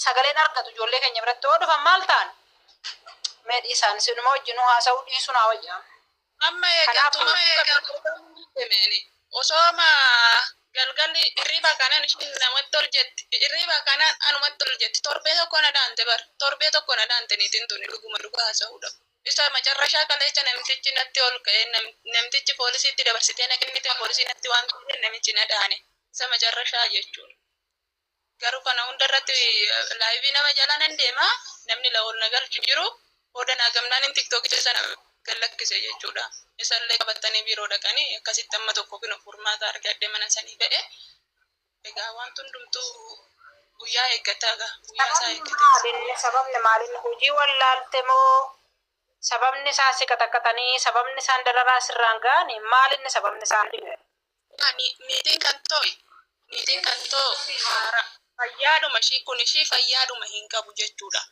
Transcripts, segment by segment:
sagaleen argatu ijoollee keenya biratti yoo dhufan maal ta'an mee dhiisaan sinuma wajjin haasa'uu dhiisuu naa wayyaa. Amma eegantu amma eegantu demeeni. Osoo ma galgalli hirriba kanan ishiin namatti ol jetti. Hirriba kanan anumatti ol jetti. Torbee tokko na dhaante bar. Torbee tokko na dhaante niitiin tuni dhuguma dhugaa haasa'uudha. Isa macarrashaa kaleecha namtichi natti ol ka'ee namtichi poolisiitti dabarsitee na kennite poolisii natti waan ta'eef namichi na dhaane. Isa macarrashaa jechuudha. Garuu kana hunda irratti laayivii nama jala nan deema namni laol na galchu jiru booda naa gamnaan in tiktokicha sana gad lakkise jechuudha. Isallee qabatanii biiroo dhaqanii akkasitti amma tokko kino furmaata argadhe mana sanii ba'e. Egaa wanti hundumtuu guyyaa eeggata egaa guyyaa isaa Sababni eeggate. maalinni sababni maalinni hojii wallaalte moo sababni isaan si qaxaqaxanii sababni isaan dararaa sirraan ga'ani maalinni sababni isaan dhibe Ani niitiin kan too'i, niitiin kan too haara, fayyaadhuma ishii, kun ishii fayyaadhuma hin qabu jechuudha.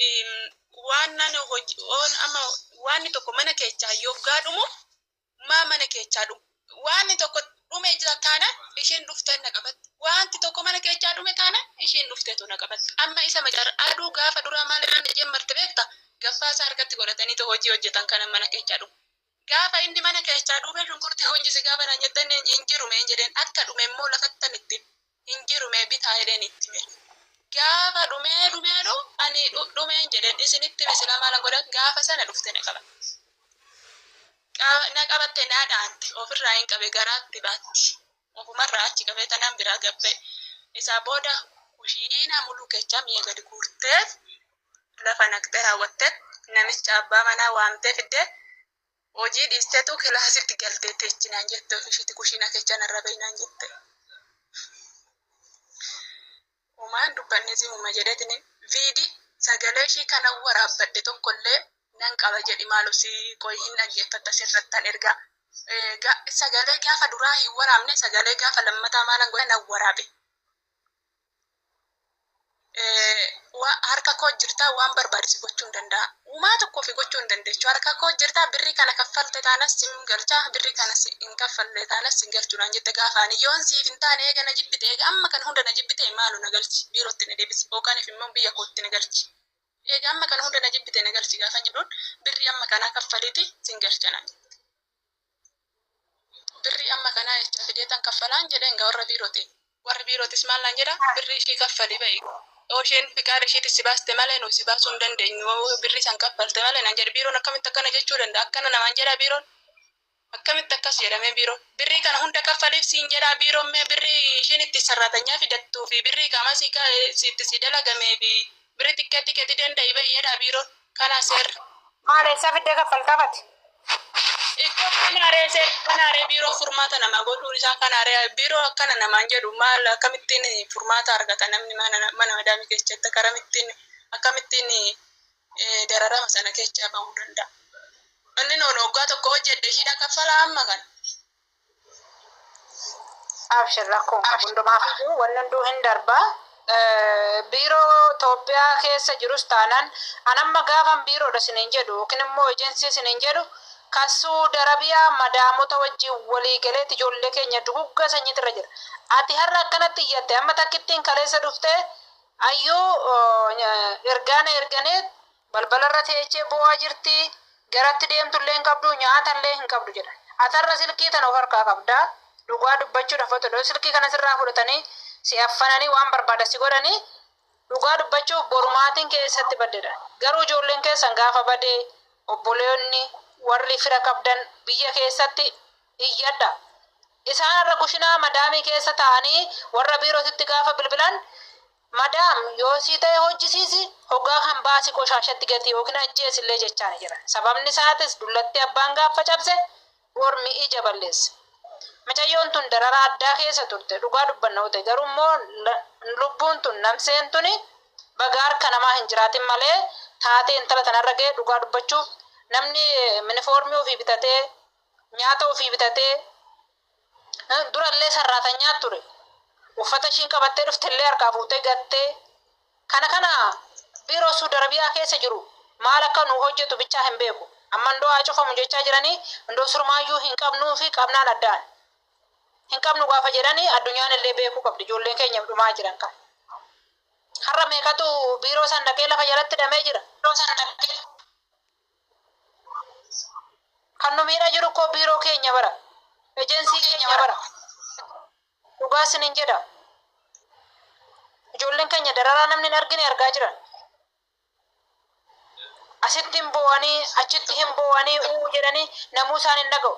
Eem, Waan ani hoj- oon amma waanni tokko mana keechaa yoggaa dhumu maa mana keechaa dhumu. Waanni tokko dhume jira taana ishiin dhuftee na qabatti. Waanti tokko mana keechaa dhume taana ishiin dhufteetu na qabatti. Amma isa macar aduu gaafa duraa maal irra na jammarte beekta? Gaffaa isaa harkatti godhataniitu hojii hojjetan kana mana keechaa dhumu. Gaafa inni mana keechaa dhuumee shunkurtii hunjisi gaafa naan jette inni hin jiru mee hin jedheen akka dhume immoo lafattan itti hin jiru mee bitaa jedheen itti hime gaafa dhumee dhumee dhu ani dhumee hin jedheen isinitti hime silaa maalan godha gaafa sana dhufte na qaba na qabatte na dhaante ofirraa hin qabe garaatti baatti. Ofumarraa achi qabee tanaan biraa gad ba'e. Isaa booda kushiinaa muluu keechaa mi'a gadi guurteef lafa naqxee raawwatteet namicha abbaa manaa waamtee fiddee hojii dhiisteetu kilaasitti galtee teechi naan jette ofishiitti kushiinaa keechaa narraa ba'i naan jette. Homaa hin dubbanne simuma jedhetini vidi sagalee ishii kanan waraabbadhe tokkollee nan qaba jedhi maalo si qoyi hin dhaggeeffatta sirrattan erga sagalee gaafa duraa hin waraabne sagalee gaafa lammataa maalan godhe nan waraabe harka koo jirtaa waan barbaadu si gochuun danda'a. Umaa tokko ofi gochuu hin dandechu harka koo jirta birri kana kaffalte taanas sin galcha birri kana hin kaffalle taanas sin galchu naan jette gaafa ani yoon siif hin taane eega na jibbite eega amma kana hunda na jibbite maalo na galchi biirotti na debisi yookanif immoo biyya kootti na galchi eega amma kana hunda na jibbite na galchi gaafan jedhuun birri amma kanaa kaffaliti sin galcha naan jette. Birrii amma kanaa eessaa fideetan kaffalaan jedheen gaa warra biirootiin. Warri biirootis maal naan jedha birrii ishii kaffali ba'i. Yoo isheen fiqaada ishiitiin si baaste malee nuyi si baasuu hin dandeenyu yoo birrii san kaffalte malee naan jedha. Biiroon akkamitti akkana jechuu danda'a? Akkana namaan jedhaa biiroon? Akkamitti akkas jedha mee biiroon? Birrii kana hunda kaffaliif siin jedhaa biiroon mee birrii ishiin itti sarraatanyaa fidattuu fi birrii qaamaa sii itti sii dalagamee fi Biri xiqqetti keti danda'i ba'i jedha biiron kana ser. Maal eessa fidde kaffaltaa bati. Iccoo kanaaree seer kanaaree biiroo furmaata nama godhuun isaa kanaaree biiroo akkana namaan jedhu maal akkamittiin furmaata argata namni mana mana madaamii keessatti akkaramittiin akkamittiin eh, dararama sana keessaa bahuu danda'a. Inni noon waggaa tokko hojjedhe ishiidha kaffala amma kana. Abshir rakkoo hin qabu hundumaaf iyyuu wanni hunduu hin darba. Eh, Biiroo Itoophiyaa keessa jirus taanaan an amma gaafan biiroodha siniin jedhu yookiin immoo ejensii siniin jedhu kan Suudi Arabiyaa madaamota wajjin walii galeeti ijoollee keenya duguggaa sanyiitu irra jira. Ati har'a akkanatti iyyatte amma takkittiin kaleessa dhuftee ayyuu oh, ergaana erganee Balbalarra teechee boo'aa jirti. Garatti deemtullee hin qabdu, nyaatallee hin qabdu jedhan. Ati har'a silkii tana of harkaa qabdaa? Dhugaa dubbachuudhaaf otoo yoo silkii kana sirraa fudhatanii si affananii waan barbaadan si godhanii dhugaa dubbachuuf boru maatiin kee eessatti badde jedhan. Garuu ijoolleen keessan gaafa bade obboleonni, warri fira qabdan biyya keessatti iyyadha. Isaan har'a kushinaa madaamii keessa taa'anii warra biirootitti gaafa bilbilan Madaam yoo sii ta'e hojjisiisi, hogaa kan baasi qoshaashatti gati yookiin ajjeesi illee jechaani jiran. Sababni isaatis dullatti abbaan gaaffa cabse ormi ija balleessa. Micayyoon tun dararaa addaa keessa turte dhugaa dubbanna yoo ta'e garuu immoo lubbuun tun namseen tuni baga harka namaa hin jiraatin malee taatee intala tana irra gahe dhugaa dubbachuuf namni minifoormii ofii bitatee nyaata ofii bitatee Durallee sarraatanyaa ture. Uffata ishiin qabattee dhuftellee harkaa fuutee gattee. Kana kana biiroo Suud Arabiyaa keessa jiru maal akka nuu hojjetu bichaa hin beeku. Amma indoo haa cufamu jechaa jiranii indoo surmaayyuu hin qabnuu fi qabnaan addaan hin qabnu gaafa jedhani addunyaanillee beekuu qabdi ijoolleen keenya dhumaa jiran kan. Har'a meeqatu biiroo san dhaqee lafa jalatti hidhamee jira. Kan nu miidhaa jiru koo biiroo keenya bara. Ejensii keenya bara. Dhugaa sinin jedha. Ijoolleen keenya dararaa namni hin argine argaa jiran. Asitti hin boo'anii, achitti hin boo'anii, uu jedhanii namuu isaan hin dhaga'u.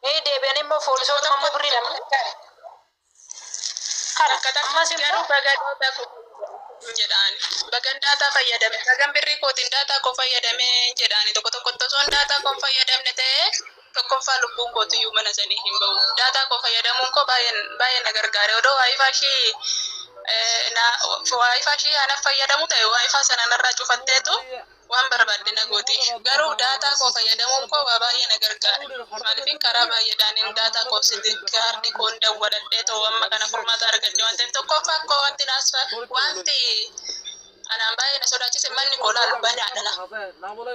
Ee deebi'anii immoo foolisoota ammoo birrii lama kana ammas immoo garuu baga daataa koo hin jedhaan bagan daataa fayyadame bagan birrii kootiin daataa koo fayyadame hin jedhaani tokko tokkotti osoon daataa koo hin fayyadamne ta'ee tokkoffaa lubbuun kootu iyyuu mana sanii hin ba'u daataa koo fayyadamuun koo baay'een baay'ee na gargaare odoo waayifaa ishii eh, na waayifaa ishii ana fayyadamu ta'e waayifaa sana narraa cufatteetu waan barbaadde na gooti. Garuu daataa koo fayyadamuun koo waa baay'ee na gargaare. Maaliifin karaa baay'eedhaanin daataa koo sim kaardii koon dawwaladhee too amma kana furmaata argadhe waan ta'eef tokkoffaan koo wanti naasfa wanti anaan baay'ee na sodaachise manni koo laala banaadha na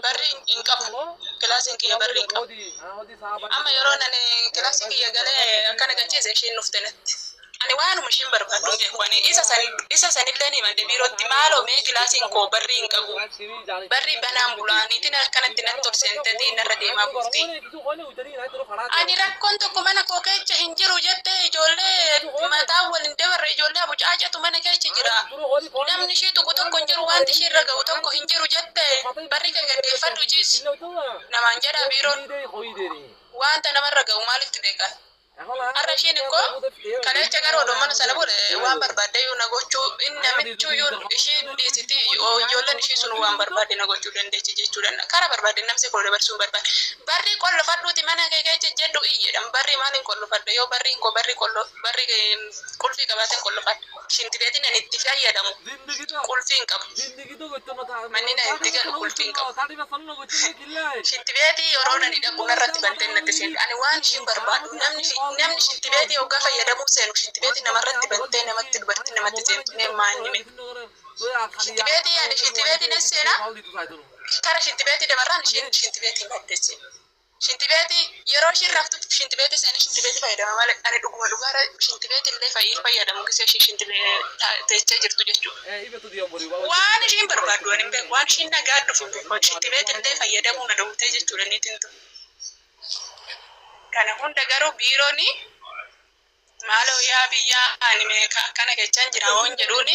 barri hin qabu kilaasiin kiyya barri hin qabu amma yeroo nani kilaasii kiyya galee akkana gachiise ishiin dhufte natti Ani waanuma ishiin barbaaddu jedhe wani isa san isa sanilleen himadhe biirootti maaloo mee kilaasiin koo barrii hin qabu barrii banaan bulaa niitiin akkanatti natti ol seenteeti narra deemaa bulti ani rakkoon tokko mana koo keecha hin jiru jette ijoollee mataa wal hin dabarre ijoollee abucaacetu mana keecha jira namni ishii tuqu tokko hin jiru wanti ishii irra ga'u tokko hin jiru jette barri kee gaggeeffadhu ciisi namaan jedhaa biiroon wanta namarra ga'u maalitti beekaa Har'a ishiin immoo kaleecha gara odoo mana sana buune waan barbaadde iyyuu na gochuu hin namichuu iyyuu ishii dhiisiti ijoolleen ishii sun waan barbaadde na gochuu dandeechi jechuu danda'a. Karaa barbaadde namse koo dabarsuun barbaada. Barrii qollofadhuuti mana kee keecha jedhu iyyi jedhan barrii maaliin qollofadha yoo barriin koo barrii qollo barrii qulfii qabaateen qollofadha. Shinti beetiin ani itti fayyadamu qulfii hin qabu. Manni na itti galu qulfii hin qabu. Shitti beetii yeroo nani dhaqu narratti bantee natti seenti. Ani waan ishiin barbaaddu namni namni shitti beetii hoggaa fayyadamuu seenu shitti beetii namarratti bantee namatti dubartiin namatti seentu mee maa inni mee. Shitti beetii ani shitti beetii nan seena kara shitti beetii dabarraan ishiin shitti beetii maddee seenti. Shintibeetii yeroo ishiin raftutti shintibeetii seenee shintibeetii fayyadama malee ani dhuguma dhugaara shintibeetii illee fayyii fayyadamu gisee ishii shintibeetii teechee jirtu jechuudha. Waan ishiin barbaaddu waan hin beeku waan ishiin nagaa dhufu beeku shintibeetii illee fayyadamuu na dhowwitee jechuudha niitiin tun. Kana hunda garuu biiroon Maaloo yaa biyyaa ani meeqa akkana kechan jira hoon jedhuuni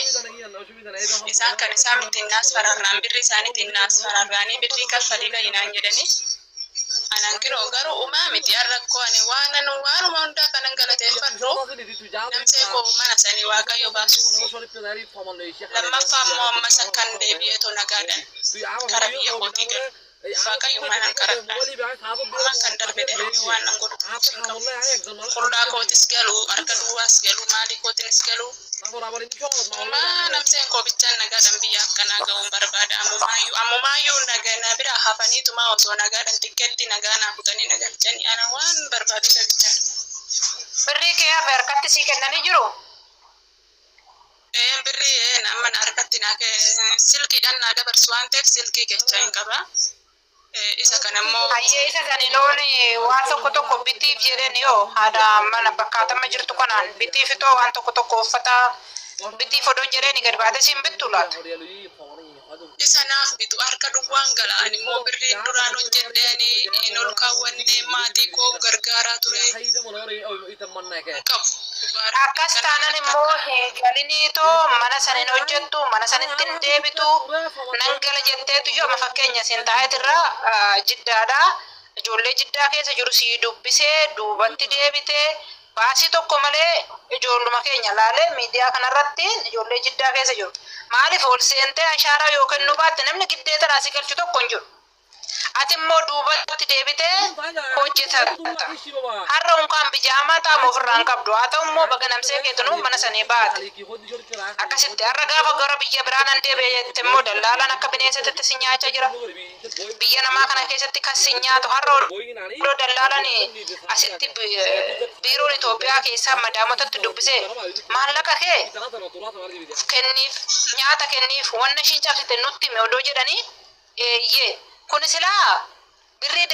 isaan kan isaan ittiin naas fararraan birrii isaaniitiin naas fararraanii birrii kaffalii bahi naan jedhanii anaan kinoo garuu umaa miti an rakkoo ani waanan waanuma hundaa kanan galateeffadhu namsee koo mana sanii waaqayyo baasu lammaffaa immoo ammas akkan deebi'eetu nagaadhan kara biyya kootii galu Waaqayyo manan kadhadha. Ammaan kan darbe darbee waan nan godhu tokkos hin qabu. Qullaa kootis galuu, harka duwwaas galuu, maalii kootiinis galuu, ammumaa nabseen koo bichaan nagaadhaan biyya akka naa ga'uun barbaada. Ammumaayyuu, ammumaayyuu naga, na biraa hafaniitumaa osoo nagaadhaan tikkeettii nagaa naa kutanii na galchanii ana waan barbaadu isa bichaadha. Birrii kee hafe harkatti sii kennanii jiruu? Een birrii een amma na harkatti naa kee silkiidhaan naa dabarsu waan ta'eef silkii keechaa hin qaba. Eh, Isa kana immoo Hayyee isa sani loon waan tokko tokko bitiif jedheen yoo haadha mana bakkaatama jirtu kanaan bitiif itoo waan tokko tokko uffata bitiif odoon jedheen gad baatee siin bittu laata. Isa naaf bitu harka duwwaan gala. Ani immoo birriin duraan hojjedhe ani hin ol kaawwanne maatii koo gargaaraa ture. Hin qabu. Dhugaa rabbii Akkas kana taanan natti immoo fakkaata. hin galiniitoo mana san hin hojjettu, mana sanitti hin deebitu, nan gala jetteetuyyu amma fakkeenya siin taa'eetirra ah, jiddaadha. Ijoollee jiddaa keessa jiru sii dubbisee duubatti deebite, Baasii tokko malee ijoolluma keenya ilaalee miidiyaa kanarratti ijoollee Jiddaa keessa jiru. Maaliif ol seentee ashaaraa yoo kennuu baatte namni giddeetadhaa si galchu tokko hin jiru. Ati immoo duubatti deebitee hojjetatta. Har'a unkaan bijaamaa taama ofirraa hin qabdu. Haa ta'u immoo baga namsee keetinuu mana sanii baate. Akkasitti har'a gaafa gara biyya biraa nan deebi'a jette immoo dallaalaan akka bineensatitti si nyaachaa jira. Biyya namaa kana keessatti kan si nyaatu har'a odoo dallaalan asitti biiroon Itoophiyaa keessaa madaamotatti dubbisee maallaqa kee kenniif nyaata kenniif wanna ishiin cabsite nutti hime odoo jedhanii eeyyee kun silaa birrii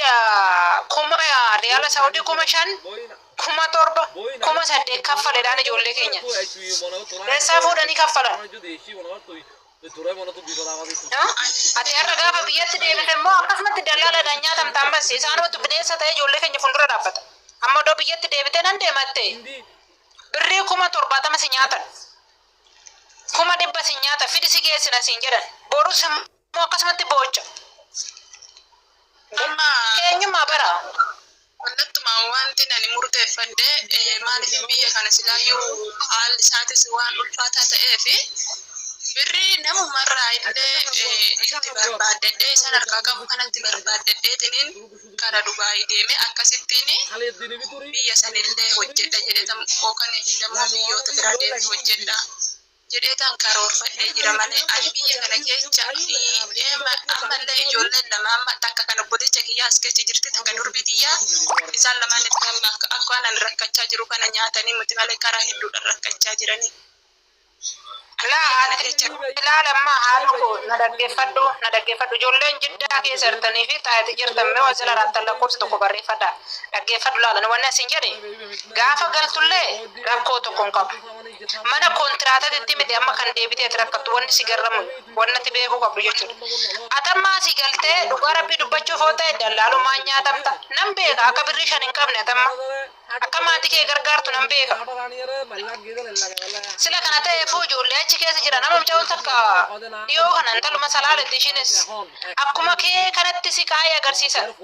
kuma riyaala saawudii kuma shan kuma torba kuma saddeet kaffaledhaan ijoollee keenya keessaa fuudhanii kaffalan. Ati har'a gaafa biyyatti deebite immoo akkasumatti dallaaladhaan nyaatamta ammas isaanumatu bineensa ta'ee ijoollee keenya fuuldura dhaabbata. Amma iddoo biyyatti deebite nan deematte birrii kuma torbaatama si nyaatan. Kuma dhibba si nyaata fidi si geessina siin jedhan. Borus immoo akkasumatti boocha. Dhimma eenyummaa bara. Kallattumaan wantin ani murteeffadhe eh, maaliif biyya kana silaayyuu haalli isaatis waan ulfaataa ta'eef birrii namumarraa illee eh, itti barbaaddadhee isaan harkaa qabu kanatti barbaaddadheetiniin kara Dubaayii deeme akkasittiin biyya sanillee hojjedha jedhetam yookaan immoo biyyoota biraa deemee hojjedha. jedheetan karoorfadhee jira malee ani biyya kana keecha ammallee ijoolleen lama amma takka kan obboleecha kiyyaa as keecha jirti takka durbii tiyyaa isaan lamaan itti amma akka akka anan rakkachaa jiru kana nyaatanii muti malee karaa hedduudhaan rakkachaa jiranii. Ilaala amma haala koo na dhaggeeffadhu na dhaggeeffadhu ijoolleen jiddaa keessa jirtanii fi taa'eeti jirtan mee waan sila raattan lakkoofsa tokko barreeffadha dhaggeeffadhu laala wanni asin jedhe gaafa galtullee rakkoo tokko hin qabu. mana kontiraatatitti miti amma kan deebitee ati rakkattu wanni si garramu wannati beekuu qabdu jechuudha. Atamma asii galtee dhugaa rabbii dubbachuuf yoo ta'e dallaalumaan nyaatamta nan beeka akka birrii shan hin qabne atamma akka maatii kee gargaartu nan beeka. Sila kana ta'eefuu ijoollee achi keessa jira nama mucaan takka dhiyoo kana intaluma salaaletti ishiinis akkuma kee kanatti si kaa'ee agarsiisan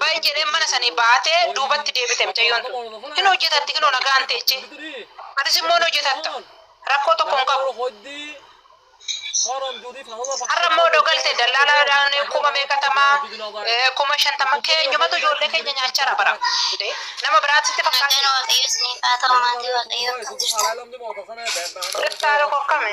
baay'ee jedhee mana sanii baatee duubatti deebite mucayyoon tun hin hojjetatti kinoo nagaan teechee. Atis immoo hin hojjetatta. Rakkoo tokko hin qabu. Har'a immoo odoo galte dallaalaadhaan kuma meeqatama eh, kuma shantama keenyumatu ijoollee keenya nyaachara bara. Dee, Nama biraatitti Nagaan fakkaate. waaqayyoo isiniif haa ta'u maatii waaqayyoo kan jirtan. Dhirtaa tokko akkami?